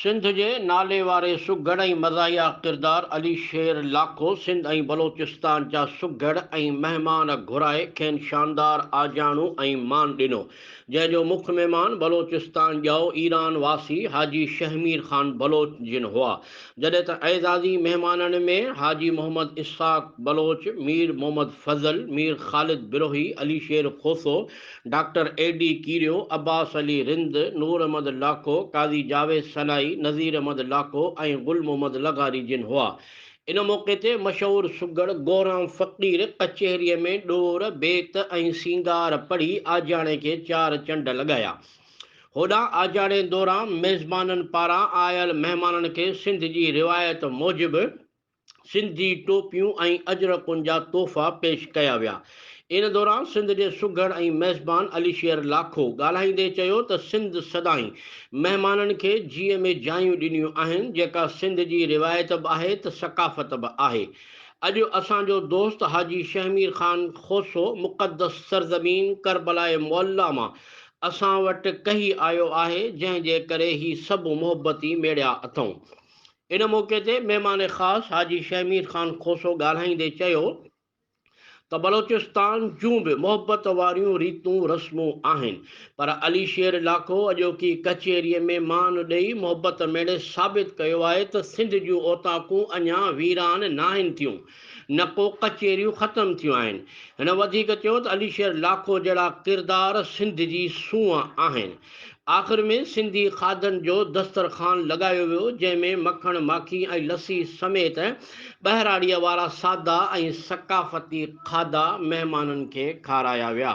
سنڌ جي ناليواري سگهڙ ۽ مزاحيه ڪردار علي شير لاکو سنڌ ۽ بلوچستان جا سگهڙ ۽ مهمان گهرائي کين شاندار آجياڻو ۽ مان ڏنو. جنهن جو مک مهمان بلوچستان ڄائو ايران واسي حاجي شهمير خان بلوچ جن هئا، جڏهن ته اعزازي مهمانن ۾ Haji Muhammad Ishaq Baloch, Mir Muhammad Fazal, Mir Khalid Brohi, Ali Sher Khoso, doctor A D Kerio, Abbas Ali Rind, Noor Ahmed Lakho, Qazi Javed Sanai, Nazir Ahmed Lakho ۽ Gul Muhammad لغاري جن هئا. ان موقعي تي مشهور سگهڙ گورام فقير ڪچهريء ۾ ڏور، بيت ۽ سينگار پڙهي آجياڻي کي چار چنڊ لڳايا. هوڏانهن آجياڻي دوران ميزبانن پاران آيل مهمانن کي سنڌ جي روايت موجب سنڌي ٽوپيون ۽ اجرڪن جا تحفا پيش ڪيا ويا. ان دوران سنڌ جي سگهڙ ۽ ميزبان علي شير لاکو ڳالهائيندي چيو ته سنڌ سدائين مهمانن کي جيء ۾ جايون ڏنيون آهن جيڪا سنڌ جي روايت به آهي ته ثقافت به آهي اڄ اسان جو دوست حاجي شهمير خان کوسو مقدس سرزمين ڪربلاء معليٰ مان اسان وٽ ڪهي آيو آهي جنهن جي ڪري هي سڀ محبتي ميڙيا اٿئون ان موقعي تي مهمان خاص حاجي شهمير خان کوسو ڳالهائيندي چيو ته بلوچستان جون به محبت واريون ريتون رسمون آهن پر علي شير لاکو اڄوڪي ڪچهريء ۾ مان ڏئي محبت ميڙي ثابت ڪيو آهي ته سنڌ جون اوطاقون اڃا ويران ناهن ٿيون نه ڪو ڪچهريون ختم ٿيون آهن. هن وڌيڪ چيو ته علي شير لاکو جهڙا ڪردار سنڌ جي سونهن آهن. آخر ۾ سنڌي کاڌن جو دسترخوان لڳايو ويو جنهن ۾ مکڻ ماکي ۽ لسي سميت ٻهراڙيء وارا سادا ۽ ثقافتي کاڌا مهمانن کي کارايا ويا.